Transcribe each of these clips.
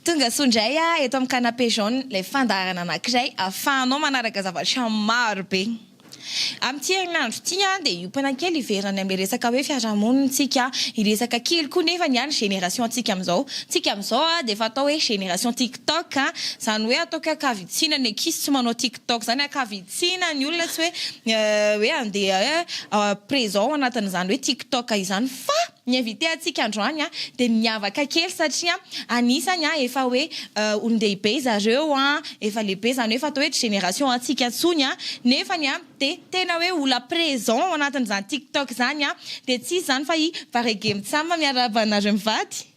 Tonga soa indray ah, eto amin'ny canapé jaune ilay fandaharana anankiray ahafahanao manaraka zavatra maro be. Amin'ity herinandro ity ah, dia hiompana kely hiverina amin'ilay resaka hoe fiarahamonintsika, hiresaka kely koa nefa ny an'ny génération antsika amin'izao. Ny antsika amin'izao dia efa atao hoe génération tik. Tok a, zany hoe ataoko hoe ankavitsiana ny ankizy tsy manao tik tok zany, ankavitsiana ny olona tsy hoe hoe andeha hoe présent ao anatin'izany hoe tik tok izany fa ny invité antsika androany a dia miavaka kely satria anisany a efa hoe olon-dehibe izareo a, efa lehibe zany hoe efa atao hoe tsy génération antsika intsony a, nefany a dia tena hoe olona présent ao anatin'izany tik tok zany a, dia tsy izy zany fa i Baregem Tsam miarahaba anareo mivady.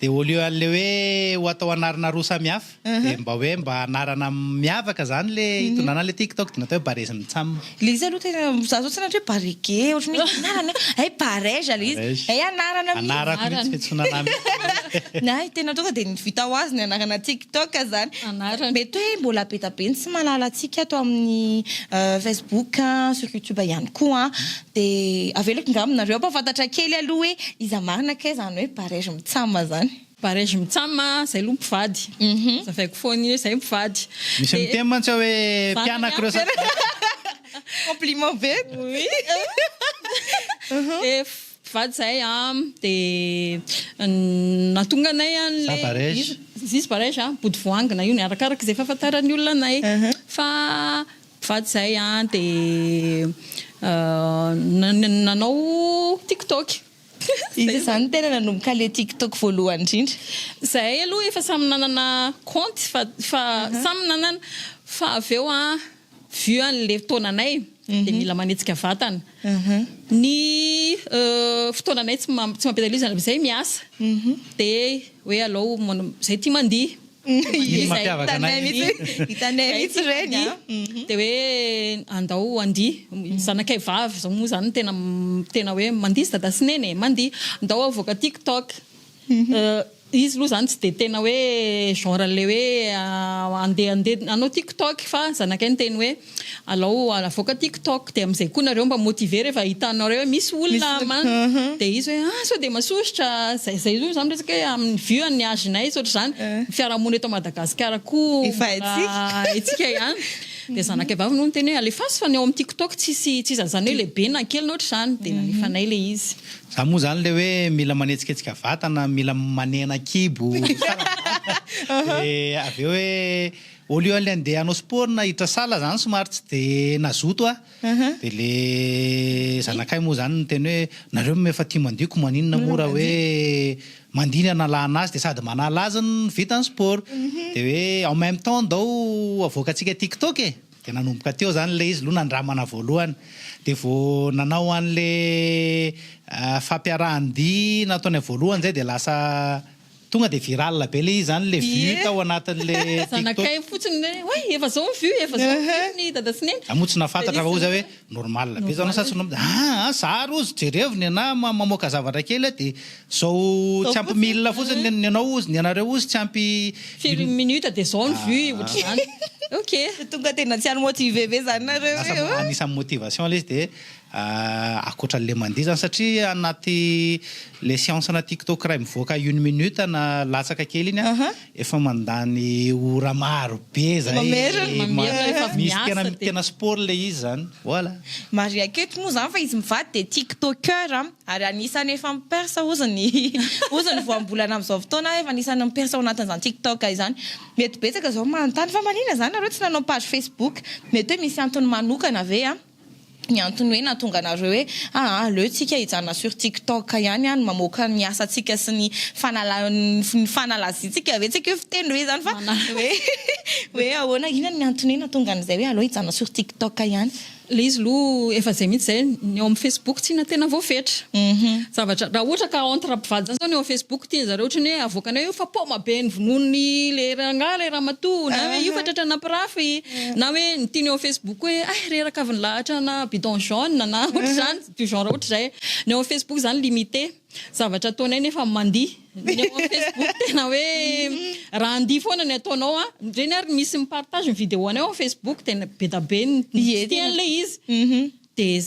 Dia au lieu an'ilay hoe ho atao anarana roa samy hafa, dia mba hoe mba anarana miavaka izany ilay hitondrana an'ilay TikTok, dia natao hoe Barezin'i Cham. Ilay izy aloha tena, za zao tsy hainao hoe Barege, ohatran'ny hoe anarana hoe, hay Barège ilay izy, Barège. hay anarana mihitsy. Anarako mihitsy, fiantsoana anà mihitsy. Ny ahy tena tonga dia ny vita ho azy ny anarana TikTok izany. Anarana. Mety hoe mbola be dia be ny tsy mahalala antsika ato amin'ny Facebook, sur YouTube ihany koa an. Dia avelako ngamba nareo ampafantatra kely aloha hoe iza marina kay zany hoe barège mitsam zany. Barège mitsam zay aloha mpivady. Zavaiko foana io hoe zay mpivady. Misy miteny mantsy aho hoe mpianako ireo sady mpivady. Compliment be. Oui. Dia mpivady izahay dia nahatonga anay an'ilay. Iza barège? Iza barège? Bodivoangina io ny arakaraka izay fahafantaran'ny olona anay fa. Vady zay an de nanao tiktok. Iza zany tena nanomboka le tiktok voalohany indrindra? Zahay aloha efa samy nanana kaonty fa fa samy nanana fa avy eo an vu anle taonanay de mila manetsika vatana ny fotoananay tsy mampiasa ilay izy zany zay miasa de hoe aleo zay tia mandihy. Iny mampiavaka anay mihitsy. Hitanay mihitsy ireny a. Dia hoe andao handihy. Ny zanakay vavy izao moa izany tena tena hoe mandihy dada sy neny e, mandihy. Andao havoaka tiktok. Izy aloha izany tsy dia tena hoe genre an'ilay hoe handehandeha hanao tiktok fa ny zanakay niteny hoe. Alao avoaka tik tok dia amizay koa nareo mba motiver rehefa hitanareo hoe misy olona man dia izy hoe ah sao dia masosotra zay zay zao zany resaka hoe aminy vue an'ny age nay tsy ohatr'izany ny fiarahamonina eto Madagascar koa efa haintsika ihany dia zanakay vavy no niteny hoe alefaso fa ny ao amin'ny tik tok tsisy tsisy an'izany hoe lehibe na kely na ohatr'izany dia nalefanay le izy. Za moa zany le hoe mila manetsiketsika vatana mila manena kibo tsara dia avy eo hoe Au lieu le ndeha hanao sport nahiditra salle zany somary tsy de nazoto aho de le zanakay moa zany niteny hoe nareo moa efa tia mandio ko maninona moa raha hoe mandia ny analana azy de sady manala azy no vita ny sport de hoe en meme temps ndao avoakantsika tiktok e de nanomboka teo zany le izy lo nandramana voalohany de vo nanao anle fampiarahan-dia nataony voalohany zay de lasa Tonga dia viral be le izy zany le vue tao anatin le tiktok. Zanakay fotsiny le hoe oay efa zao ny vue efa zao ny vue ny dada sy neny. Za moa tsy nahafantatra fa ozy hoe normal be zao na sa tsy normal aa a zary ozy jerevo ny anah mamoaka zavatra kely a de zao tsy ampy mille fotsiny ny anao ozy ny anareo ozy tsy ampy firy minute de zao ny vue otrzany ok. Tonga tena tsy any motive be zany nareo e. Lasa anisan'ny motivation le izy de Ankoatra anle mandihy zany satria anaty le siansa ana tiktok ray mivoaka une minute na latsaka kely iny an, efa mandany ora maro be zay, Mamerina, mamerina rehefa avy misy tena miasa dia. tena sport le izy zany voilà. Mariaiko eto moa zany fa izy mivady dia tiktoker an, ary anisany efa mi perce ozy ny ozy ny voambolana amzao fotoana efa anisany mi perce ao anatin'izany tiktok izany, mety betsaka zao manontany fa manina zany nareo tsy nanao page facebook, mety hoe misy antony manokana ve an. ny antony hoe nahatonga anareo hoe aa aleo tsika hijanona sur tiktok ihany an mamoaka ny asa tsika sy ny fanala ny fanalaziantsika ve tsy aiko hoe fiteny hoe izany fa hoe hoe ahoana inona ny antony hoe nahatonga an'izay hoe aleo hijanona sur tiktok ihany. Ilay izy aloha efa izay mihitsy izay, ny ao amin'ny facebook tsy na tena voafetra zavatra raha ohatra ka entre mpivady izany izao ny ao facebook tian-dry zareo ohatran'ny hoe avoakanay io fa paoma be ny vonoin'ny ilay rangahy ilay ramatoa na hoe io fa tratra nampirafy. Na hoe ny tiany eo amin'ny Facebook hoe hay reraka avy nilahatra ana bidon jaune na ohatr'izany, du genre ohatr'izay. Ny ao amin'ny Facebook izany limité. Zavatra ataonay nefa mandihy. Ny ao amin'ny Facebook tena hoe raha handihy foana ny ataonao an, ireny ary misy mi-partage ny vidéo-nay ao amin'ny Facebook dia be dia be ny tsy tiany ilay izy. Dia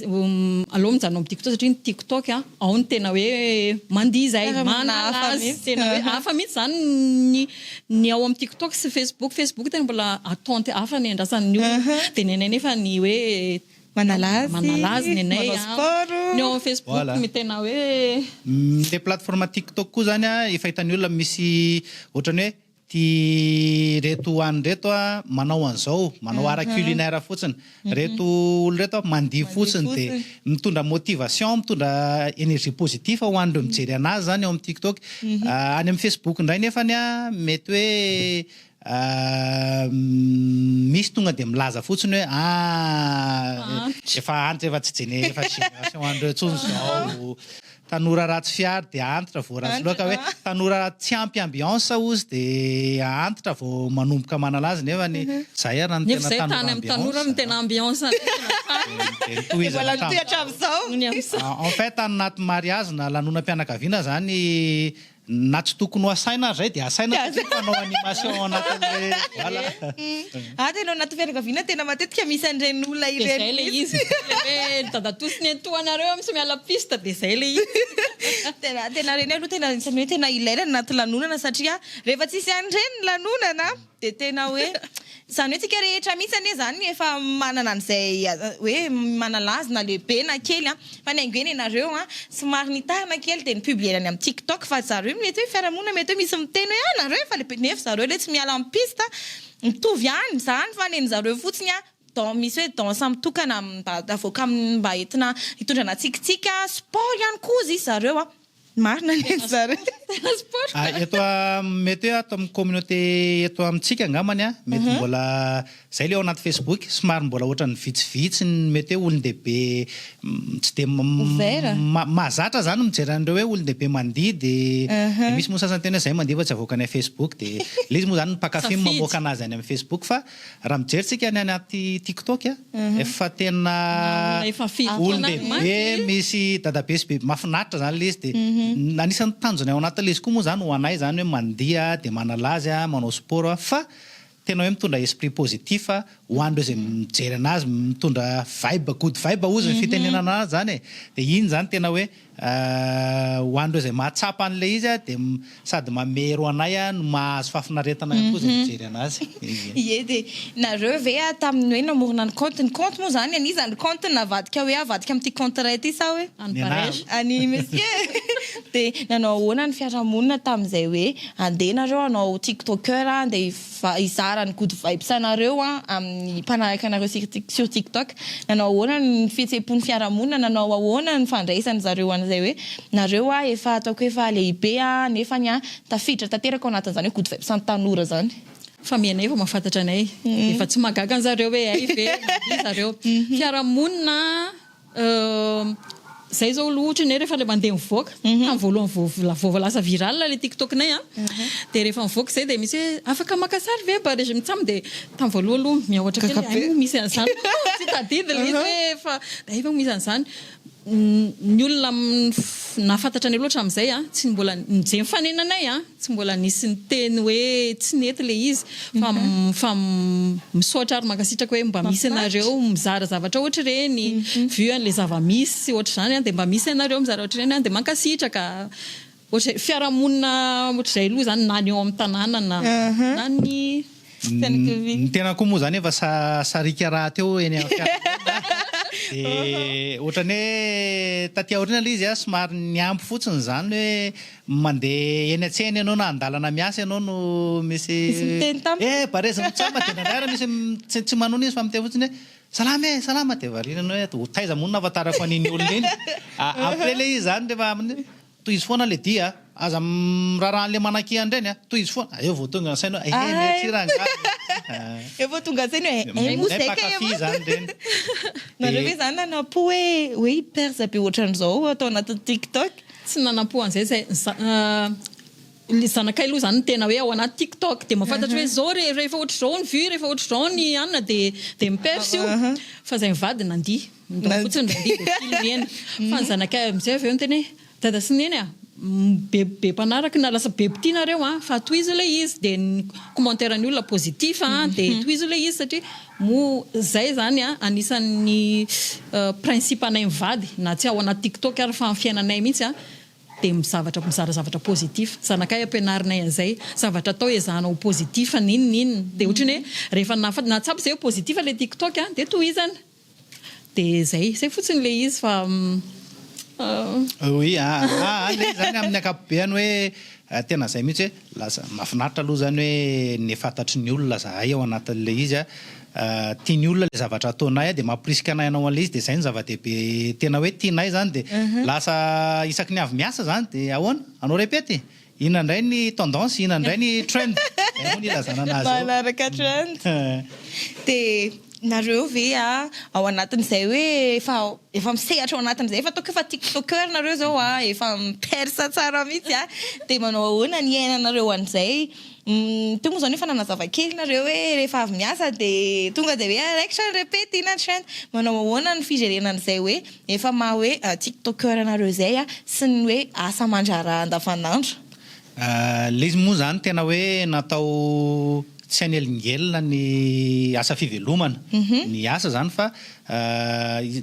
aleo mijanona ao amin'ny TikTok satria ny TikTok ao no tena hoe mandihy izay, manala azy. Tena hoe hafa mihitsy izany ny ny ao amin'ny TikTok sy Facebook. Facebook tena mbola attente hafa ny andrasan'ny olona. Dia ny anay anefa ny hoe manala azy, manala azy ny anay. Manao sport. Ny ao amin'ny Facebook no tena hoe. Ilay plateforme TikTok koa izany efa hitan'ny olona misy ohatran'ny hoe. Ty reto oany reto a manao anzao manao ara culinaire fotsiny reto olo reto a mandihy fotsiny de mitondra motivation mitondra energie positif ho anreo mijery anazy zany ao am tiktok any am facebook ndray nefany a mety hoe misy tonga de milaza fotsiny hoe ah efa antitra efa tsy jene efa tsy generation anreo tsony zao. Tanora ratsy fihary dia antitra vao ratsy loaka hoe tanora tsy ampy ambiance ozy dia antitra vao manomboka manala azy nefa ny zay ary ny tena tanora ambiance no tena ambiance dia mbola mitohy hatramin'izao en fait any anaty mariage na lanonam-pianakaviana zany Na tsy tokony ho asaina ary izay dia asaina satria mpanao animation ao anatin'ilay voilà. Ato ianao anaty fianakaviana tena matetika misy an'ireny olona ireny mihitsy. Dia izay ilay izy, ilay hoe ry dadatoa ny antohanareo amintsy miala piste dia izay ilay izy. Tena ireny aloha tena anisan'ny hoe tena ilaina ny anaty lanonana satria rehefa tsisy an'ireny ny lanonana. Dia tena hoe, izany hoe tsika rehetra mihitsy anie izany efa manana an'izay hoe manalazy na lehibe na kely an! Fa ny haingo hoe nenareo an! somary nitarina kely dia ni-publier-na ny amin'ny tiktok fa zareo hoe mety hoe fiarahamonina mety hoe misy miteny hoe ah! nareo efa lehibe nefa zareo le tsy miala amin'ny piste an! mitovy ihany izany fa nen'zareo fotsiny an! dan- misy hoe danse mitokana mba avoaka mba entina hitondrana tsikintsika, sport ihany koa izy zareo an! Marina ny an'i zareo. Tena sport. Ah, eto am- mety hoe ato amin'ny communauté eto amintsika angambany a, mety Mhm. mbola zay le ao anaty Facebook, somary mbola ohatran'ny vitsivitsy ny mety hoe olon-dehibe mm, tsy de m- Ouvert. ma- mahazatra zany ny mijery an'ireo hoe olon-dehibe mandihy de Mhm. de misy moa sasany tena hoe zay mandihy fa tsy avoakany amin'ny Facebook de le izy moa zany ny mpakafy no Safidy. mamoaka anazy any amin'ny Facebook fa Raha mijery tsika ny any anaty tiktok a, efa tena olon-dehibe misy dadabe sy bebe mahafinaritra zany le izy de anisan'ny tanjony ao anatin'le izy koa moa zany ho anay zany hoe mandiha de manala azy a, manao sport a fa tena hoe mitondra esprit positif ho an'ireo izay mijery anazy, mitondra vibe, good vibe ozy ny fitenenana anazy zany e, de iny zany tena hoe. Ho an'ireo izay mahatsapa an'ilay izy dia sady mamero anay no mahazo fahafinaretana ihany koa izay mijery anazy. Ie dia nareo ve tamin'ny hoe namorona ny compte, ny compte moa izany an'iza ny compte navadika hoe avadika amin'ity compte iray ity sa hoe an'i Paresh, an'i Monsieur dia nanao ahoana ny fiarahamonina tamin'izay hoe andeha nareo hanao tiktoker andeha Mba hizara ny good vibes anareo aho amin'ny mpanaraka anareo sur tiktok, nanao ahoana ny fihetseham-pon'ny fiarahamonina, nanao ahoana ny fandraisany zareo an'izay hoe nareo aho efa ataoko hoe efa lehibe aho nefany aho tafiditra tanteraka ao anatin'izany hoe good vibes an'ny tanora zany. Fa miha anay vao mahafantatra anay, efa tsy mahagaga an'zareo hoe hay ve na tsia zareo. Fiarahamonina. Izahay izao aloha ohatra ny ahy rehefa ilay mandeha mivoaka, tamin'ny voalohany vao vao lasa viral ilay TikTok-nay an, dia rehefa mivoaka izay dia misy hoe afaka maka sary ve mba resy mitsam dia tamin'ny voalohany aloha miahotra kely hay moa misy an'izany tsy tadidiko ilay izy hoe efa hay ve misy an'izany. Ny olona nahafantatra anay aloha hatramin'izay an, tsy mbola nijery mifanena anay an. Tsy mbola nisy niteny hoe tsy nety le izy fa fa misaotra ary mankasitraka hoe mba misy anareo mizara zavatra ohatr'ireny vu an'le zava-misy ohatr'izany an dia mba misy anareo mizara ohatr'ireny an dia mankasitraka ohatr'izay fiarahamonina ohatr'izay aloha izany na ny ao amin'ny tanàna na na ny Ny tenako koa moa izany efa sariaka rahateo eny amin'ny fiarahamonina dia ohatran'ny hoe taty aoriana ilay izy somary nihambo fotsiny izany hoe mandeha eny an-tsena ianao na an-dalana miasa ianao no misy miteny tamiko hoe eh barezi mitsama dia indraindray ary misy tsy manona izy fa miteny fotsiny hoe salama e salama dia variana ny hoe ho taiza moa no nahafantarako an'iny olona iny après ilay izy izany rehefa Tohizo foana le dihy a! Aza miraraha an'le manakia an-dreny a! Tohizo foana! Eo vao tonga an-tsaina hoe ehe merci rangahy! Eo vao tonga an-tsaina hoe ehe moa zay kay e! Mpankafy zany reny! Nareo ve zany nanampo hoe hoe i perza be ohatran'izao atao anatin'ny tiktok? Tsy nanampo an'izay zay za. Ny zanakay aloha izany no tena hoe ao anaty tiktok dia mahafantatra hoe izao re, rehefa ohatr'izao ny vue, rehefa ohatr'izao ny anona dia dia mi-perce io. Fa izay mivady nandihy, midao fotsiny indray andihy dia filmer-ny. Fa ny zanakay amin'izay avy eo miteny hoe, dada sy neny a, be be mpanaraka na lasa be mpitia nareo a, fa tohizo ilay izy, dia ny commentaire-n'ny olona positif a, dia tohizo ilay izy satria moa izay izany a, anisan'ny principe-nay mivady, na tsy ao anaty tiktok ary fa amin'ny fiainanay mihitsy a, dia mizavatra mizara zavatra positif zanakay ampianarinay an'izay zavatra atao ezahana ho positif n'inon'inona dia ohatry ny hoe rehefa nafa na tsapa izay hoe positif ilay tik tok a dia tohizana dia izay izay fotsiny ilay izy fa ah. Oui, ah, ah, ah, le zany amin'ny ankapobeny hoe tena izay mihitsy hoe. Lasa. Mahafinaritra aloha izany hoe ny fantatry ny olona izahay ao anatin'ilay izy a. Tia ny olona ilay zavatra ataonay a, dia mamporisika anay hanao an'ilay izy, dia izay no zava-dehibe tena hoe tianay izany. Dia lasa isaky ny avy miasa izany dia ahoana? Hanao repety? Inona indray ny tendance? Inona indray ny trend? Izay moa no ilazana anazy eo. Manaraka trend. Dia nareo ve a, ao anatin'izay hoe efa. Efa misehatra ao anatiny izay fa ataoko efa tik toker nareo zao a, efa miperce tsara mihitsy a, dia manao ahoana ny hiainanareo an'izay? Teo moa izao nefa nanazava kely nareo hoe rehefa avy miasa dia tonga dia hoe ah raikitra ny repety iny hatrany, manao ahoana ny fijerena an'izay hoe efa maha hoe tik toker anareo izay a, sy ny hoe asa aman-draharaha andavan'andro? L'izy moa izany tena hoe natao tsy hanelingelina ny asa fivelomana ny asa izany fa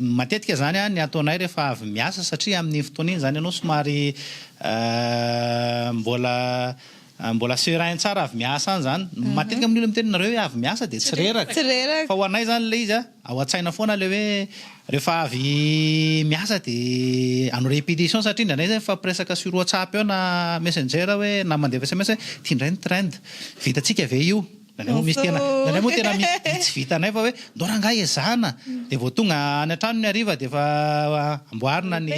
matetika izany ny ataonay rehefa avy miasa satria amin'iny fotoana iny izany ianao somary mbola mbola serein tsara avy miasa any izany, matetika moa ny olona miteny nareo hoe avy miasa dia tsy reraka fa ho anay izany ilay izy Ao an-tsaina foana ilay hoe rehefa avy miasa dia hanao répétition satria indraindray izay mifampiresaka sur WhatsApp eo na Messenger hoe na mandefa sms hoe ity indray ny trend, vitantsika ve io? Indraindray moa misy tena, indraindray moa tena misy tsy vitanay fa hoe ndao rangahy ezahana, dia vao tonga any an-trano ny hariva dia efa amboarina ny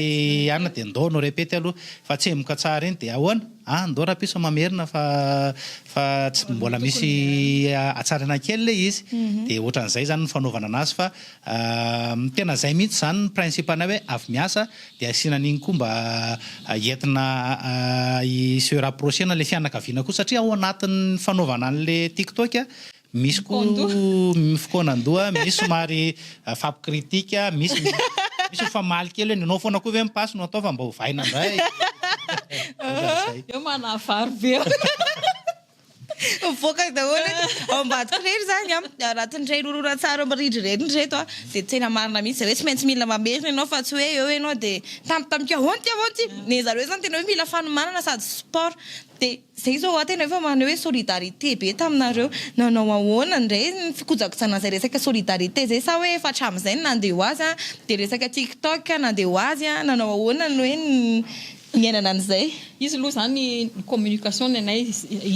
hanina dia ndao hanao répète aloha fa tsemboka tsara iny dia ahoana? Ah ndao rapiso mamerina fa fa tsy mbola misy hatsarana kely le izy de otran'izay zany ny fanaovana anazy fa tena zay mihitsy zany ny principe anay hoe avy miasa de asiana an'iny koa mba entina hi se rapprocher-na le fianakaviana koa satria ao anatin'ny fanaovana an'le tiktok Misy koa fikaonan-doha, misy somary fampikritika, misy misy mifamaly kely hoe nenao foana koa ve ny pasy no atao fa mba ovaina indray. Ohatran'izay. Eo manavaro be eo. Mivoaka daholo ao ambadiko irery izany an, raha tsy ny irery horonantsary ao amin'ny rindry irery ny ireto an, dia tena marina mihitsy zareo, tsy maintsy mila mamerina ianao fa tsy hoe eo ianao dia tampotampoka ahoana ity ahoana ity, ny an'zareo izany tena hoe mila fanomanana sady sport, dia Zay izao hoa tena efa maneho hoe solidarité be taminareo. Nanao ahoana indray ny fikojakojana izay resaka solidarité izay sa hoe efa hatramin'izay ny nandeha ho azy dia resaka tiktok nandeha ho azy, nanao ahoana ny hoe ny niainana an'izay. Izy aloha izany ny communication ny anay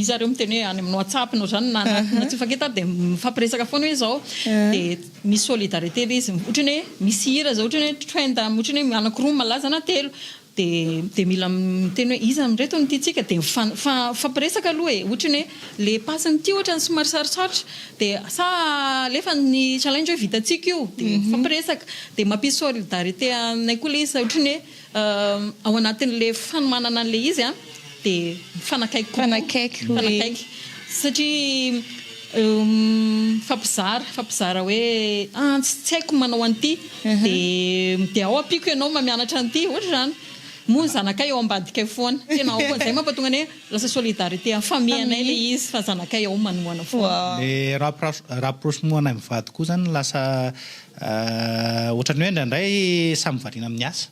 iza ary eo miteny hoe any amin'ny whatsapp na izany na na tsy mifankita dia mifampiresaka foana hoe izao dia misy solidarité ilay izy ohatran'ny hoe misy hira izao ohatran'ny hoe trend ohatran'ny hoe anakiroa malaza na telo dia mila miteny hoe iza amin'ireto no tiantsika dia mifampiresaka aloha e, ohatra ny hoe le passe-ny ity ohatra ny somary sarotsarotra dia sa alefa ny challenge hoe vitantsika io dia mifampiresaka dia mampisy solidarité aminay koa le izy ohatra ny hoe ao anatin'le fanomanana an'le izy a. dia mifanakaiky kokoa, mifanakaiky hoe, mifanakaiky satria mifampizara, mifampizara hoe antsy tsy haiko ny manao an'ity dia dia ao ampiako ianao mba mianatra an'ity, ohatra izany. Moa ny zanakay ao ambadikay foana, tena ao, izay mampatonga anay lasa solidarité, mifamehy anay ilay izy fa zanakay ao manohana foana. Le rapprochement anay mivady koa izany lasa ohatra ny hoe indraindray samy variana amin'ny asa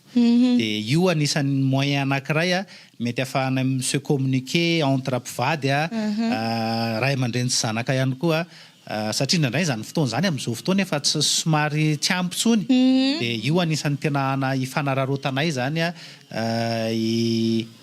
dia io anisan'ny moyen anankiray Mety afahanay mi-se communiquer entre mpivady a, ray aman-dreny sy zanaka ihany koa a, satria indraindray izany fotoana izany amin'izao fotoana efa tsy somary tsy ampy intsony dia io anisan'ny tena hana hifanararaotanay izany a,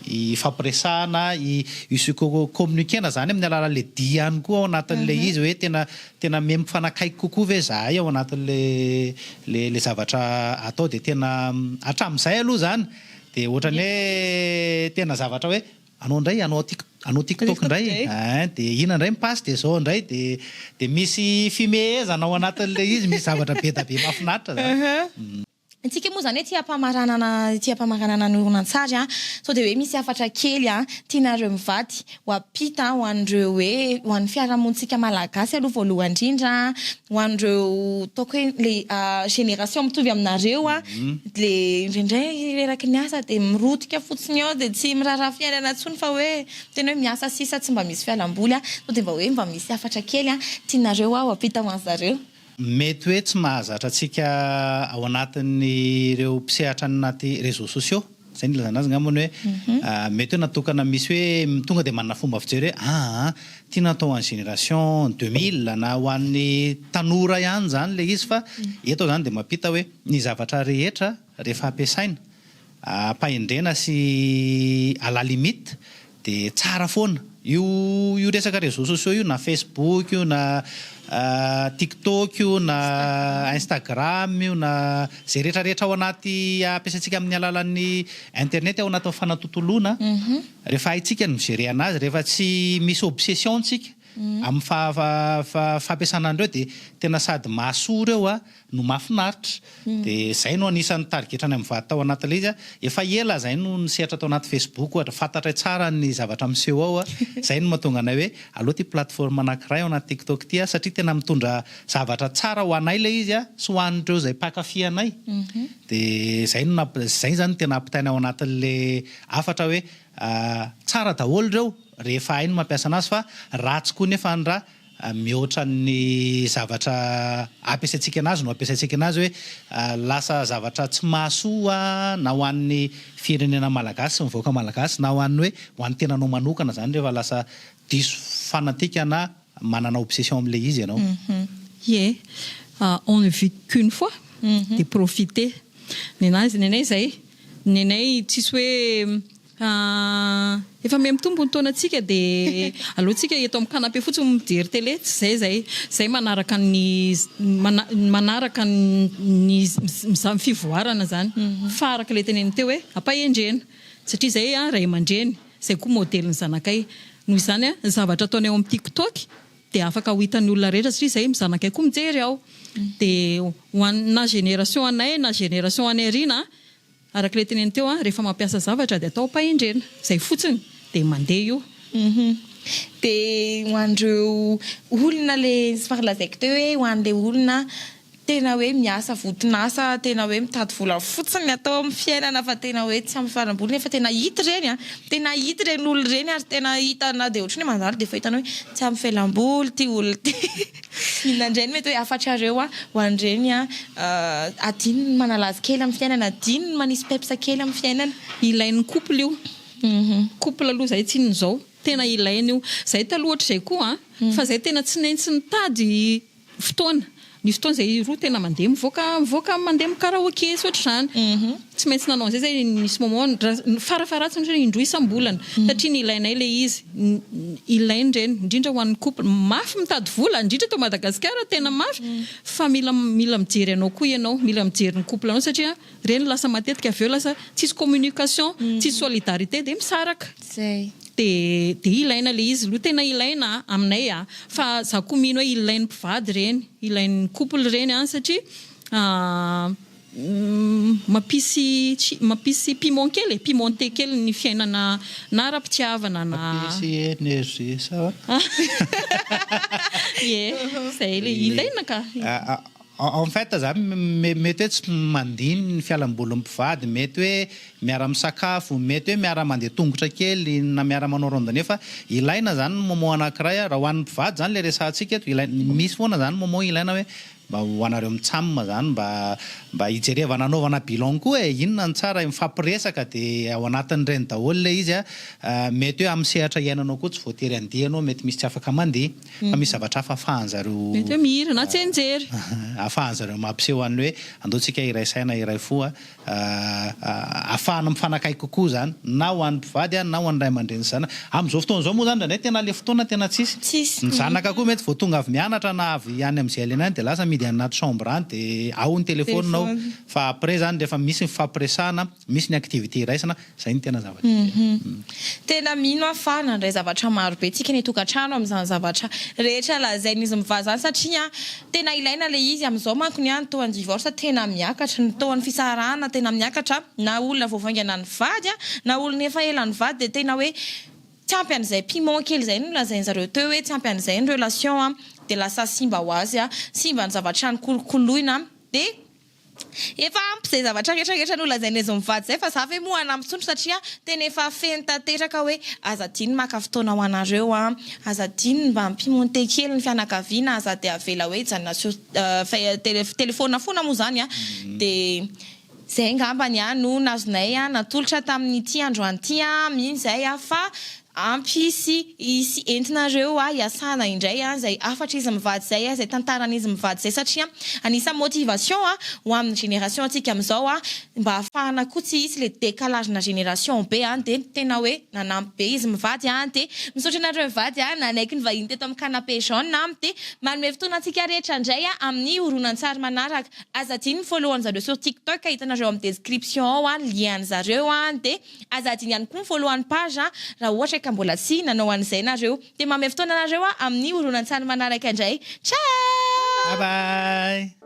hifampiresahana, hi-se communiquer-na izany amin'ny alalan'ilay dihy ihany koa ao anatin'ilay izy hoe tena tena miha mifanakaiky kokoa ve izahay ao anatin'ilay ilay zavatra atao dia tena hatramin'izay aloha izany Dia ohatrany hoe tena zavatra hoe anao indray anao anao tiktok indray ein dia ina indray mipasse dia zao indray dia dia misy fimehezana ao anatin'ilay izy misy zavatra bedabe mahafinaritra zany. Antsika moa izany aty ampamaranana aty ampamaranana ny horonantsary an, sao dia hoe misy hafatra kely an tianareo mivady. ho ampita ho an'ireo hoe ho an'ny fiarahamonintsika malagasy aloha voalohany indrindra ho an'ireo ataoko hoe le génération mitovy aminareo le indraindray reraky ny asa de mirotika fotsiny eo de tsy miraharaha fiainana intsony fa hoe tena hoe miasa sisa tsy mba misy fialamboly sao de mba hoe mba misy hafatra kely tianareo hoa ho ampita ho an'zareo. Mety hoe tsy mahazatra antsika ao anatin'ireo mpisehatra any anaty réseaux sociaux, izay no ilazana azy angamba ny hoe mety hoe natokana misy hoe tonga dia manana fomba fijery hoe aa tiana atao ho an'ny génération deux mille na ho an'ny tanora ihany izany ilay izy fa eto izany dia mampita hoe ny zavatra rehetra rehefa ampiasaina ampahendrena sy à la limite dia tsara foana. Io io resaka réseaux sociaux io na Facebook io na tiktok io na instagram io na izay rehetra rehetra ao anaty ampiasaintsika amin'ny alalan'ny internet ao anatin'ny fanatontoloana rehefa haintsika ny mi-gérer anazy rehefa tsy misy obsession-tsika amin'ny fampiasana an'ireo dia tena sady mahasoa ireo no mahafinaritra dia izay no anisan'ny tarigetrany amin'ny vady tao anaty ilay izy a, efa ela izay no nisehatra tao anaty facebook ohatra, fantatray tsara ny zavatra miseho ao a, izay no mahatonga anay hoe aleo ity plateforme anakiray ao anaty tiktok ity a, satria tena mitondra zavatra tsara ho anay ilay izy a, sy ho an'ireo izay mpankafy anay, dia izay no namp, izay izany no tena ampitaina ao anatin'ilay hafatra hoe tsara daholo ireo rehefa hay ny mampiasa anazy fa ratsy koa nefa ny raha Mihoatra ny zavatra ampiasaintsika anazy no ampiasaintsika anazy hoe lasa zavatra tsy mahasoa na ho an'ny firenena malagasy sy ny vahoaka malagasy na ho an'ny hoe ho an'ny tenanao manokana izany rehefa lasa diso fanantikana manana obsession amin'ilay izy ianao. Ie, on ne vit qu'une fois dia profiter. Ny anay izay, ny anay tsisy hoe Ka efa miha mitombo ny taonantsika dia aleontsika eto amin'ny canapé fotsiny no mijery télé, tsy izay izay, izay manaraka ny manaraka ny ny fivoarana izany fa araka ilay teneniny teo hoe am-pahendrena satria izay ray aman-dreny, izay koa modely ny zanakay, noho izany ny zavatra ataonay ao amin'ny tik tok dia afaka ho hitan'ny olona rehetra satria izay ny zanakay koa mijery ao dia ho an'ny na génération anay na génération any aoriana. Araka ilay teneniny teo an, rehefa mampiasa zavatra dia atao am-pahendrena. Izay fotsiny. Dia mandeha io. Uhum. Dia ho an'ireo olona ilay tsy fa lazaiko teo hoe ho an'ilay olona tena hoe miasa voton'asa tena hoe mitady vola fotsiny ny atao amin'ny fiainana fa tena hoe tsy ampifaramboliny efa tena hita ireny an, tena hita ireny olona ireny ary tena hita na dia ohatry ny hoe mandalo dia efa hitany hoe tsy ampifelamboly ity olona ity. Inona indray no mety hoe hafatrareo ho an'ireny adinony ny manalazo kely amin'ny fiainana, adinony ny manisy peps kely amin'ny fiainana? Ilain'ny couple io, couple aloha izay tsy inona izao, tena ilaina io, izay taloha ohatr'izay koa an, fa izay tena tsy naintsy nitady fotoana, nisy fotoana izay roa tena mandeha mivoaka mivoaka mandeha mi-karaoke sy ohatr'izany. Tsy maintsy nanao an'izay zay i Miss Momo, farafaharatsiny otrany indroa isam-bolana, satria nilainay ilay izy, ilainy ireny, indrindra ho an'ny couple, mafy mitady vola, indrindra eto Madagasikara, tena mafy, fa mila mila mijery anao koa ianao, mila mijery ny couple anao satria ireny lasa matetika avy eo lasa tsisy communication, tsisy solidarité dia misaraka. Zay. Dia dia ilaina ilay izy aloha, tena ilaina an, aminay an, fa za koa mino hoe ilain'ny mpivady ireny, ilain'ny couple ireny an, satria. Mampisy mampisy piment kely e, pimenté kely ny fiainana na ara-pitiavana na. Mampisy energie sa ahoana? Ie, izay ilay ilaina ka. En fait za mety hoe tsy mandiny ny fialambolin'ny mpivady, mety hoe miara misakafo, mety hoe miara mandeha tongotra kely na miara manao randonnée fa ilaina zany ny moment anankiray, raha ho an'ny mpivady zany ilay resahantsika eto, ilaina, misy foana zany moment ilaina hoe Mba ho anareo mitsam zany mba mba ijerevana anaovana bilan koa e, inona no tsara, mifampiresaka de ao anatin'ireny daholo ilay izy a, mety hoe amin'ny sehatra iainanao koa tsy voatery handeha ianao, mety misy tsy afaka mandeha fa misy zavatra hafa afahan'zareo Mety hoe mihira na tsianjery. afahan'zareo mampiseho an'le hoe andao tsika hiray saina hiray fo a, ahafahana mifanakaiky kokoa izany na ho an'ny mpivady na ho an'ny ray aman-dreny sy zanaka. Amin'izao fotoana izao moa izany indraindray tena ilay fotoana tena tsisy. Ny zanaka koa mety vao tonga avy mianatra na avy any amin'izay ilaina any dia lasa mihidy any anaty chambre any dia ao ny telefaonina ao fa après izany rehefa misy ny fifampiresahana, misy ny activité iraisana, Izay no tena zavatra ela. Tena mino aho fa nandray zavatra maro be tsika ny tokantrano amin'izany zavatra rehetra lazain'izy mivaha izany satria tena ilaina ilay izy. Amin'izao manko ny an taon'ny divorce tena miakatra, ny taon'ny fisarahana tena miakatra na olona vao vaingana nivady na olona efa ela nivady dia tena hoe tsy ampy an'izay piment kely izay no lazain'zareo teo hoe tsy ampy an'izay ny relation dia lasa simba ho azy simba ny zavatra nikolokoloina dia Efa ampy izay zavatra rehetra rehetra nolazain'izy mivady izay fa za ve moa hanampy tsony satria tena efa feno tanteraka hoe aza adino maka fotoana ho anareo an, aza adino mba mpimonte kely ny fianakaviana, aza dia avela hoe hijanona sur tele telephone foana moa izany an, dia izay angambany an no nazonay natolotra tamin'ity androany ity an, mino izay an fa Ampy hisy hisy entinareo a hiasana indray a zay hafatra izy mivady zay a zay tantarany izy mivady zay satria anisa motivation a ho aminy génération antsika amizao a mba hafahana koa tsy hisy le décalage na génération be a de tena hoe nanampy be izy mivady a de misaotra anareo mivady a nanaiky ny vahiny teto aminy canapé jaune a de manome fotoana antsika rehetra ndray a aminy horonantsary manaraka aza adino mi follow anizareo sur tiktok hitanareo aminy description ao a lien anizareo a de Aza adino ihany koa ny voalohan'ny page raha ohatra ka mbola tsy nanao an'izay nareo. Dia manome fotoana anareo aho amin'ny horonantsary manaraka indray. Ciao! Bye bye!